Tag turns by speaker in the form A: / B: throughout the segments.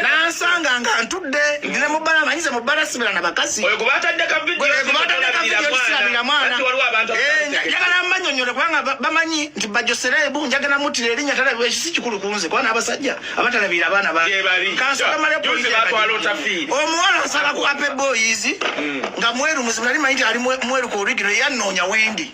A: nansanga nga ntudde ndi ne mubbala amanyize mubbala sibira na bakazi njagala mbanyonyole kubanga bamanyi nti bajoserebu njagala mutira erinya talabira ekisi kikulu kunze kuba n'abasajja abatalabira abaana baomuwala asala ku ape boyizi mm. nga mweru muzibu nali manyi ti ali mweru ku origino yanoonya wendi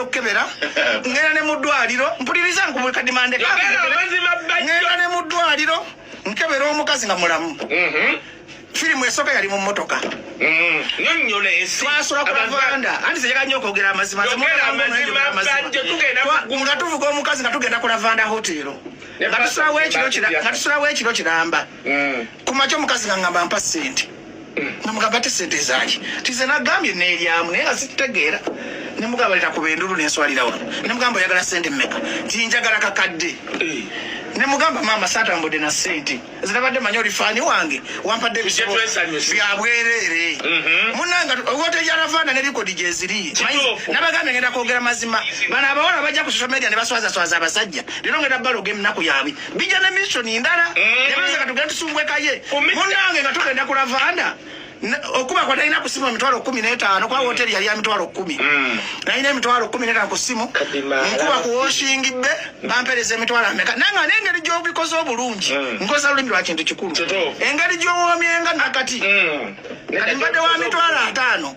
A: okukebera ngenda ne mu ddwaliro mpuliriza nkubukadimande ngenda ne mu ddwaliro nkebera omukazi nga mulamu mhm. firimu esooka yali mu mmotoka
B: twasula ku lavanda
A: anti zeyaga nyo okwogera amazima nga tuvuga omukazi nga tugenda ku lavanda hotero nga tusulawo ekiro kiramba mm. kumakya omukazi ngangamba mpa sente namugamba ate sente zaki tize nagambye nelyamu naye nga zitutegeera nemugamba leta kuba endulu nenswalira wano nemugamba oyagala sente meka tinjagala kakadde eh. nemugamba maama satambudde na sente zinabadde manyi olifaani wange wampadde ebisebo byabwereere mhm. munanga ogote yaravana ne likodi gyeziri nabagambye ngenda kwogera mazima bano abawala bajja ku social media ne baswazaswaza abasajja lero ngenda baloga emunaku yabwe bija ne mission ndala mm. nebeza katugenda tusumbwekaye munange nga tugenda ku lavanda okuba kwa nalina ku simu emitwalo kumi n'etaano kwa woteri yali ya mitwalo kumi mm. nalina emitwalo kumi n'etaano ku simu nkuba ku woshingi be bampereza emitwalo ameka naye nga n'engeri gy'obikoze obulungi mm. nkozesa lulimi lwa kintu kikulu engeri gy'owoomyenga nakati mm. kati mbadde wa mitwalo ataano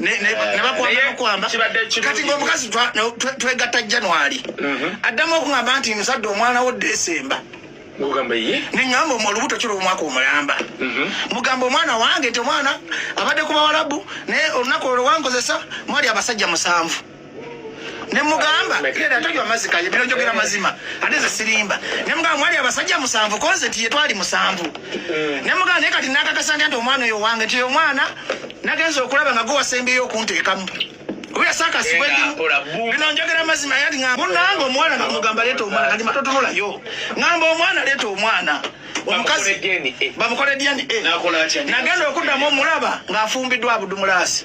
A: nebakwamba kati ngaomukazi twegatta january mhm. addamu okugamba nti musadde omwana wo desemba neŋamba olubuto kiro omwaka omulamba mhm. mugamba omwana wange nti omwana abadde ku bawalabu naye olunaku olwo wankozesa mwali abasajja musanvu ne mugamba era tanywa amazzi kaye bino njogera mazima ate ze sirimba ne mugamba mwali abasajja musanvu konze tiye twali musanvu ne mugamba naye kati nakakasa nti omwana oyo wange nti oyo omwana nagenza okulaba nga gwewasembeyo okunteekamu oyo sakasibwe ndimu bino njogera mazima yali ngamba munange omuwala nga mugamba leeta omwana kati matotunulayo ngamba omwana leeta omwana omukazi bamukole dna nagenda okuddamu omulaba ng'afumbiddwa abudumulaasi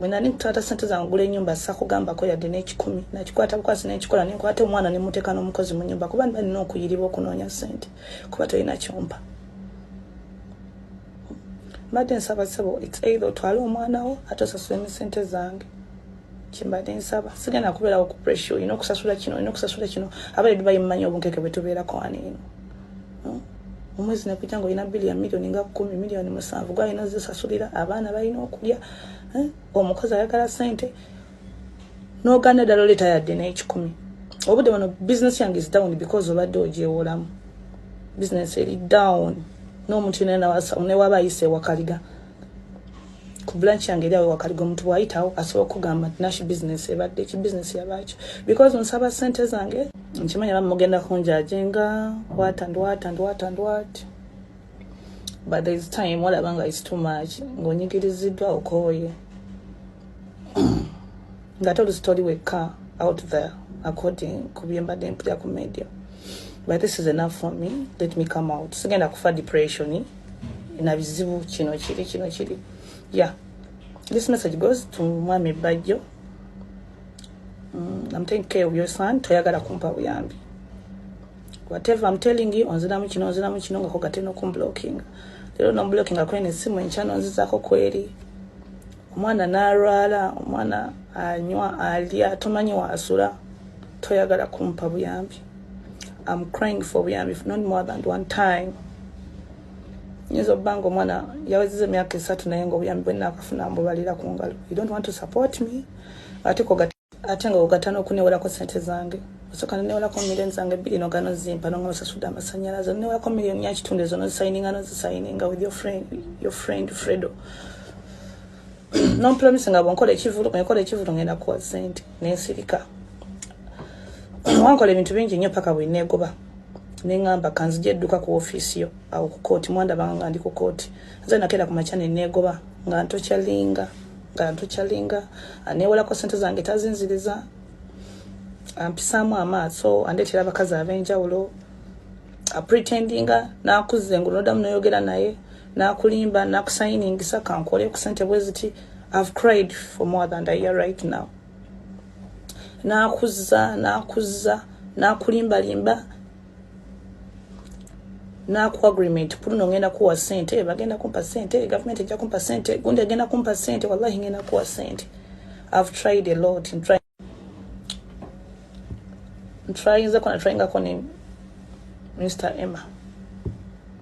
C: Mwe nani kutwata sente za ngula enyumba sakugamba ko yadde n'ekikumi nakikwata bukwasi n'ekikola nenkwata omwana ne muteeka n'omukozi mu nyumba kuba niba nina okuyiribwa okunoonya sente kuba tolina kyompa mbadde nsaba sebo it's either otwale omwana wo ate osasula emisente zange kyembadde nsaba sigenda kubeerawo ku pressure olina okusasula kino olina okusasula kino abaedu bayimmanyi obunkeke bwe tubeerako wano eno hmm? omwezi nekujja nga olina bili ya miliyoni nga kumi miliyoni musanvu gwalina ozisasulira abaana balina okulya hmm? omukozi ayagala sente noganda ddala oleeta yadde n'ekikumi obudde bano bizinesi yange is down because obadde ogyewolamu bizinesi eri down n'omuntu yona newaba ayise ewakaliga ku blanch yange eri awo wakaliga omuntu bwayitawo asobola okugamba nti nash business ebadde ki business yabaaki because nsaba sente zange nkimanya bamugenda kunjajenga wat and wat and wat and wat but there is time olaba nga is too much ng'onyigiriziddwa okooye ngate olusitoli wekka out there according ku byembadde mpulira ku media but this is enough for me let me come out sigenda kufa depression na bizibu kino kiri kino kiri yeah this message goes to mwami bajjo mm, i'm taking care of your son toyagala kumpa buyambi whatever i'm telling you onziramu kino onziramu kino nga kogate nokumblocking lero nomblocking akwene simu enkyano nzizako kweri omwana n'alwala omwana anywa alya tomanyi waasula toyagala kumpa buyambi am crying for buyambi not more than one time nyinza okuba nga omwana yawezeza emyaka esatu naye nga obuyambi bwenna akafuna mbubalira ku ngalo you don't want to support me ate kogati ate nga ogata n'okuneewolako ssente zange osooka neneewolako miliyoni zange bbiri nogano zimpa nonga nosasudde amasannyalaze oneewolako miliyoni yakitundu ezo nozisayininga nozisayininga with your friend, your friend fredo nompromisi nga bwenkola ekivulu ngekola ekivulu ngenda kuwa ssente nensirika wankola ebintu bingi nnyo paka bweneegoba neŋamba kanzija edduka ku ofiisi yo awo ku kooti mwandabanga nga ndi ku kooti nze nakeera ku makya neneegoba nga ntokyalinga nga ntukyalinga anewolako sente zange tazinziriza ampisaamu amaaso andeetera abakazi ab'enjawulo apretendinga nakuza engulu nodamu noyogera naye nakulimba nakusayiningisa kankole ku sente bwe ziti ihave cried for more than ayear right now nakuza nakuza nakulimbalimba naku agreement kuluno ngenda kuwa sente bagenda kumpa sente government ejja kumpa sente gundi agenda kumpa sente wallahi ngenda kuwa sente i've tried a lot in trying in trying zakona trying akone mr emma